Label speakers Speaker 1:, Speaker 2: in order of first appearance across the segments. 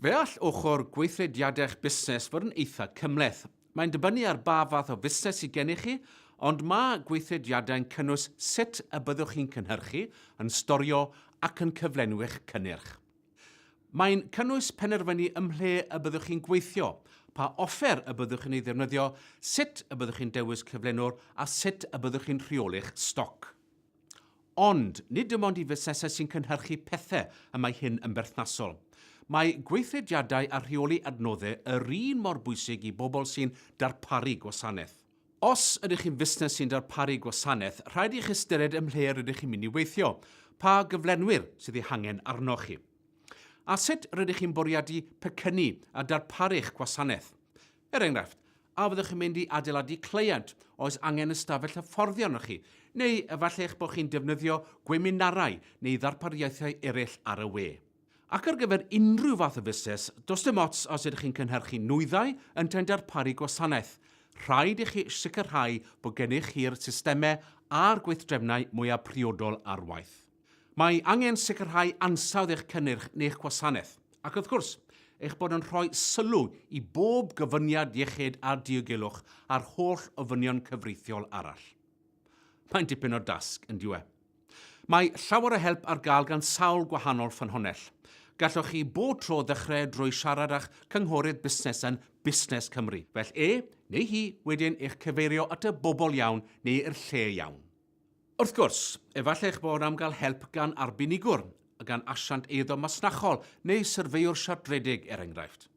Speaker 1: Fe all ochr gweithrediadau'ch busnes fod yn eitha' cymhleth. Mae'n dibynnu ar ba fath o fusnes sy gennych chi, ond mae gweithrediadau'n cynnwys sut y byddwch chi'n cynhyrchu, yn storio ac yn cyflenwi'ch cynnyrch. Mae'n cynnwys penderfynu ym mhle y byddwch chi'n gweithio, pa offer y byddwch yn ei ddefnyddio, sut y byddwch chi'n dewis cyflenwr a sut y byddwch chi'n rheoli'ch stoc. Ond, nid dim ond i fusnesau sy'n cynhyrchu pethau y mae hyn yn berthnasol. Mae gweithrediadau a rheoli adnoddau yr un mor bwysig i bobl sy'n darparu gwasanaeth. Os ydych chi'n fusnes sy'n darparu gwasanaeth, rhaid i chi ystyried ym mhle rydych chi'n mynd i weithio, pa gyflenwyr sydd eu hangen arnoch chi, a sut rydych chi'n bwriadu pecynnu a darparu'ch gwasanaeth. Er enghraifft, a fyddwch chi'n mynd i adeiladu cleient, oes angen ystafell hyfforddi arnoch chi, neu efallai eich bod chi'n defnyddio gweminarau neu ddarpariaethau eraill ar y we? Ac ar gyfer unrhyw fath o fusnes, does dim ots os ydych chi'n cynhyrchu nwyddau yntau'n darparu gwasanaeth, rhaid i chi sicrhau bod gennych chi'r systemau a'r gweithdrefnau mwyaf priodol ar waith. Mae angen sicrhau ansawdd eich cynnyrch neu'ch gwasanaeth, ac wrth gwrs, eich bod yn rhoi sylw i bob gofyniad iechyd a diogelwch a'r holl ofynion cyfreithiol arall. Mae'n dipyn o dasg, yn dyw e? Mae llawer o help ar gael gan sawl gwahanol ffynhonnell. Gallwch chi bob tro ddechrau drwy siarad â'ch cynghorydd busnes yn Busnes Cymru, fel e neu hi wedyn eich cyfeirio at y bobl iawn neu'r lle iawn. Wrth gwrs, efallai eich bod am gael help gan arbenigwr, gan asiant eiddo masnachol neu syrfeiwr siartredig, er enghraifft.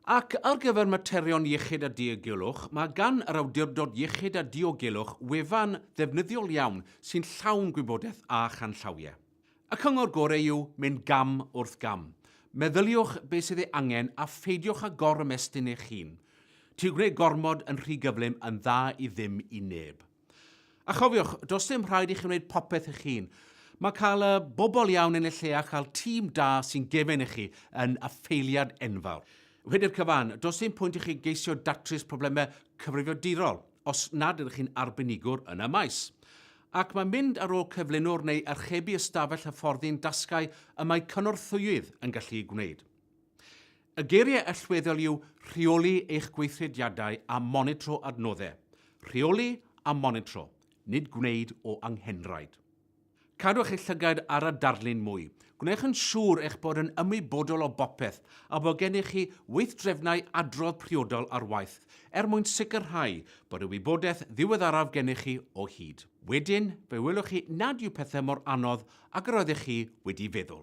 Speaker 1: Ac ar gyfer materion iechyd a diogelwch, mae gan yr Awdurdod Iechyd a Diogelwch wefan ddefnyddiol iawn sy'n llawn gwybodaeth a chanllawiau. Y cyngor gorau yw mynd gam wrth gam. Meddyliwch beth sydd ei angen a pheidiwch â gor-ymestyn eich hun. Ti'n gwneud gormod yn rhy gyflym yn dda i ddim i neb. A chofiwch, does dim rhaid i chi wneud popeth eich hun. Mae cael y bobl iawn yn y lle a chael tîm da sy'n gefn i chi yn affeiliad enfawr. Wedi'r cyfan, does dim pwynt i chi geisio datrys problemau cyfrifiadurol os nad ydych chi'n arbenigwr yn y maes. Ac mae mynd ar ôl cyflenwr neu archebu ystafell hyfforddi'n dasgau y mae cynorthwyydd yn gallu gwneud. Y geiriau allweddol yw rheoli eich gweithrediadau a monitro adnoddau. Rheoli a monitro, nid gwneud o anghenraid. Cadwch eich llygaid ar a darlun mwy. Gwnewch yn siŵr eich bod yn ymwybodol o bopeth a bod gennych chi weithdrefnau adrodd priodol ar waith er mwyn sicrhau bod y wybodaeth ddiweddaraf gennych chi o hyd. Wedyn, fe welwch chi nad yw pethau mor anodd ag yr oeddech chi wedi feddwl.